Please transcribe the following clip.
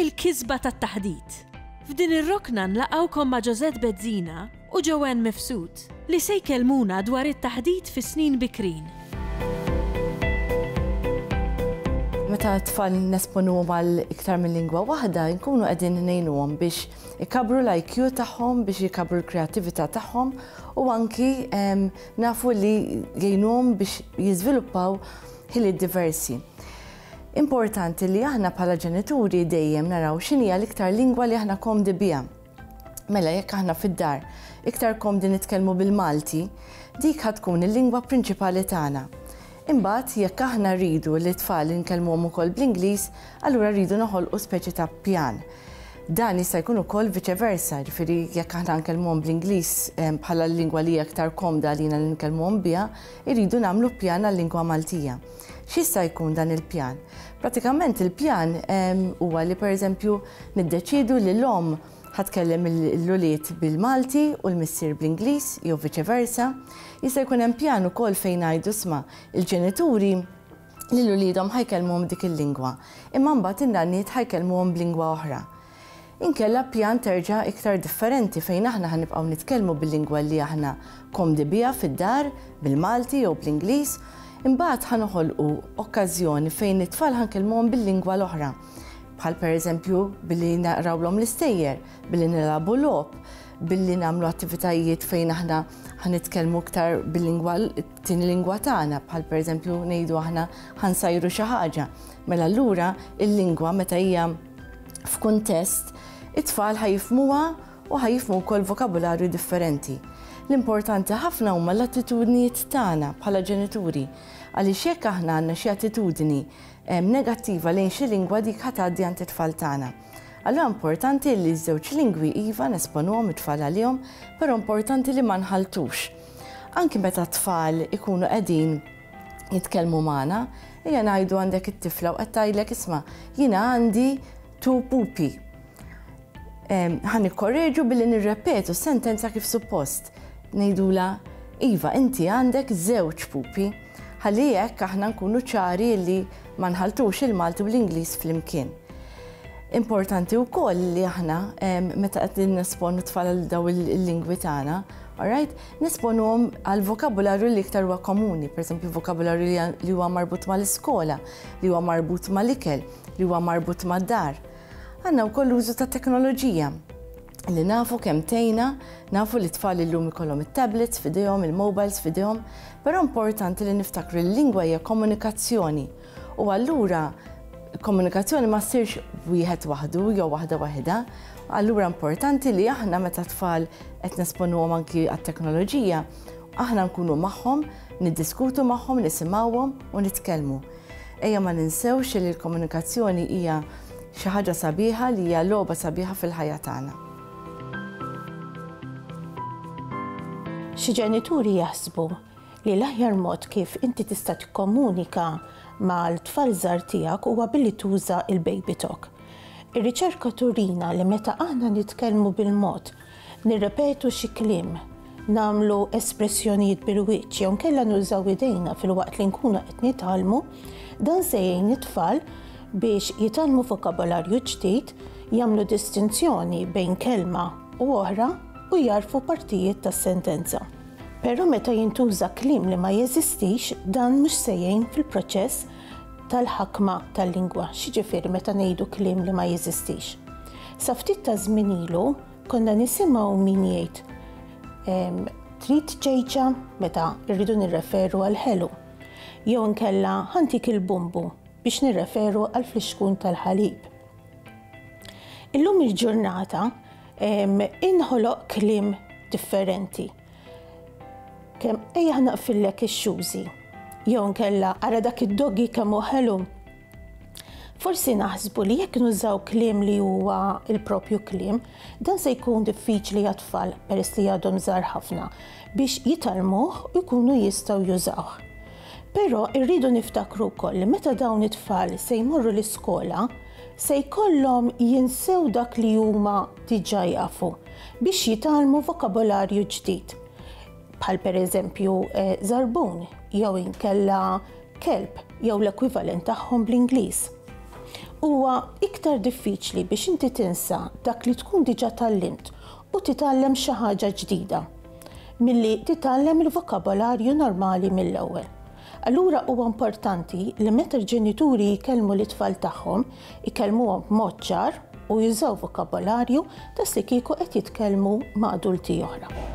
Il-kisba tat-taħdit. F'din ir-rokna nlaqgħukom ma' Josette Bezzina u Joanne Mifsud li se jkellmuna dwar it-taħdit fis-snin bikrin. Meta t-tfal nesponuhom għal iktar minn lingwa waħda, inkunu qegħdin ngħinuhom biex ikabbru l-IQ tagħhom, biex ikabbru l-kreattività tagħhom u anki nafu li jgħinuhom biex jiżviluppaw ħiliet diversi. Importanti li aħna bħala ġenituri dejjem naraw x'inhija l-iktar lingwa li aħna komdi biha. Mela jekk aħna fid-dar iktar komdi nitkellmu bil-Malti, dik ħa tkun il-lingwa prinċipali tagħna. Imbagħad jekk aħna rridu li t-tfal inkellmuhom ukoll bl-Ingliż, allura rridu noħolqu speċi ta' pjan. Dan jista' jkun ukoll viċe versa, jiġifieri jekk aħna nkellmuhom bl-Ingliż bħala l-lingwa li hija iktar komda għalina li nkellmuhom biha, irridu nagħmlu pjan għal-lingwa Maltija. X'jista' jkun dan il-pjan? Pratikament il-pjan huwa li pereżempju niddeċiedu li l-omm ħa tkellem l-ulied bil-Malti u l-missier bl-Ingliż jew viċe versa. Jista' jkun hemm pjan ukoll fejn ngħidu sma' il-ġenituri lil uliedhom ħa jkellmuhom b'dik il-lingwa, imma mbagħad in-nanniet ħa jkellmuhom b'lingwa oħra. Inkella ppjant terġa' iktar differenti fejn aħna ħa nibqgħu nitkellmu bil-lingwa li aħna komdi biha fid-dar, bil-Malti jew bl-Ingliż, imbagħad ħa noħolqu okkażjoni fejn it-tfal ħa nkellmuhom bil-lingwa l-oħra. Bħal pereżempju billi naqrawlhom l-istejjer, billi nilagħbu logħob, billi nagħmlu attivitajiet fejn aħna ħa nitkellmu iktar bil-lingwa t-tieni lingwa tagħna, bħal pereżempju ngħidu aħna ħa nsajru xi ħaġa. Mela allura il-lingwa meta hija f'kuntest, it-tfal ħa jifhmuha u ħa jifhmu wkoll vokabularju differenti. L-importanti ħafna huma l-attitudnijiet tagħna bħala ġenituri għaliex jekk aħna għandna xi attitudni ehm, negattiva lejn xi lingwa dik ħa tgħaddi għand it-tfal tagħna. Allura importanti li ż-żewġ lingwi iva nesponuhom it-tfal għalihom, però importanti li ma nħaltux. Anki meta t-tfal ikunu qegħdin jitkellmu magħna, ejja ngħidu għandek it-tifla u qed tgħidlek isma' jiena għandi tu pupi. Ħan ikkorreġu billi nirrepetu sentenza kif suppost. Ngħidula Iva, inti għandek żewġ pupi. Ħalli hekk aħna nkunu ċari li ma nħaltux il-Malti u l-Ingliż flimkien. Importanti wkoll li aħna meta qed nesponu tfal daw il-lingwi tagħna, alright? Nesponuhom għall-vokabularju li iktar huwa komuni, pereżempju l-vokabularju li għan- li huwa marbut mal-iskola, li huwa marbut mal-ikel, li huwa marbut mad-dar. Għandna wkoll l-użu ta' teknoloġija li nafu kemm tgħinna, nafu li t-tfal illum ikollhom it-tablets f'idejhom, il-mobiles f'idejhom, però importanti li niftakru li l-lingwa hija komunikazzjoni U allura komunikazzjoni ma ssirx wieħed waħdu jew waħda waħidha. Allura importanti li aħna meta tfal qed nesponuhom anki għat-teknoloġija, aħna nkunu magħhom, niddiskutu magħhom, nisimgħuhom u nitkellmu. Ejja ma ninsewx li l-komunikazzjoni hija xi ħaġa sabiħa li hija logħba sabiħa fil-ħajja tagħna. Xi ġenituri jaħsbu li l-aħjar mod kif inti tista' tikkomunika mal-tfal żgħar tiegħek huwa billi tuża l-BabyTalk. Ir-riċerka turina li meta aħna nitkellmu bil-mod, nirrepetu xi kliem, nagħmlu espressjonijiet bil-wiċċ jew inkella nużaw idejna filwaqt li nkunu qed nitgħallmu, dan se jgħin it-tfal biex jitgħallmu vokabolarju ġdid, jagħmlu distinzjoni bejn kelma u oħra u jagħrfu partijiet tas-sentenza. Però meta jintuża kliem li ma jeżistix, dan mhux se jgħin fil-proċess tal-ħakma tal-lingwa. X'jiġifieri meta ngħidu kliem li ma jeżistix? Sa ftit taż-żmien ilu konna nisimgħu min jgħid ehm, trid ċejċa meta rridu nirreferu għal ħelu. Jew inkella ħantik il-bumbu biex nirreferu għal flixkun tal-ħalib. Illum il-ġurnata, Inħoloq kliem differenti. Kemm ejja naqfillek ix-xużi. Jew nkella ara dak id-doggy kemm hu ħelu. Forsi naħsbu li jekk nużaw kliem li huwa il-propju kliem, dan se jkun diffiċli għat-tfal peress li għadhom żgħar ħafna biex jitalmuh u jkunu jistgħu jużawh. Però irridu niftakru wkoll li meta dawn it-tfal se jmorru l-iskola, se jkollhom jinsew dak li huma diġà jafu biex jitgħallmu vokabolarju ġdid, bħal pereżempju żarbun jew inkella kelb jew l-ekwivalent tagħhom bl-Ingliż. Huwa iktar diffiċli biex inti tinsa dak li tkun diġà tgħallimt u titgħallem xi ħaġa ġdida milli titgħallem il-vokabolarju normali mill-ewwel. Allura huwa importanti li meta l-ġenituri jkellmu lit-tfal tagħhom, ikellmuhom b'mod ċar u jużaw vokabolarju daqslikieku qed jitkellmu ma' adulti oħra.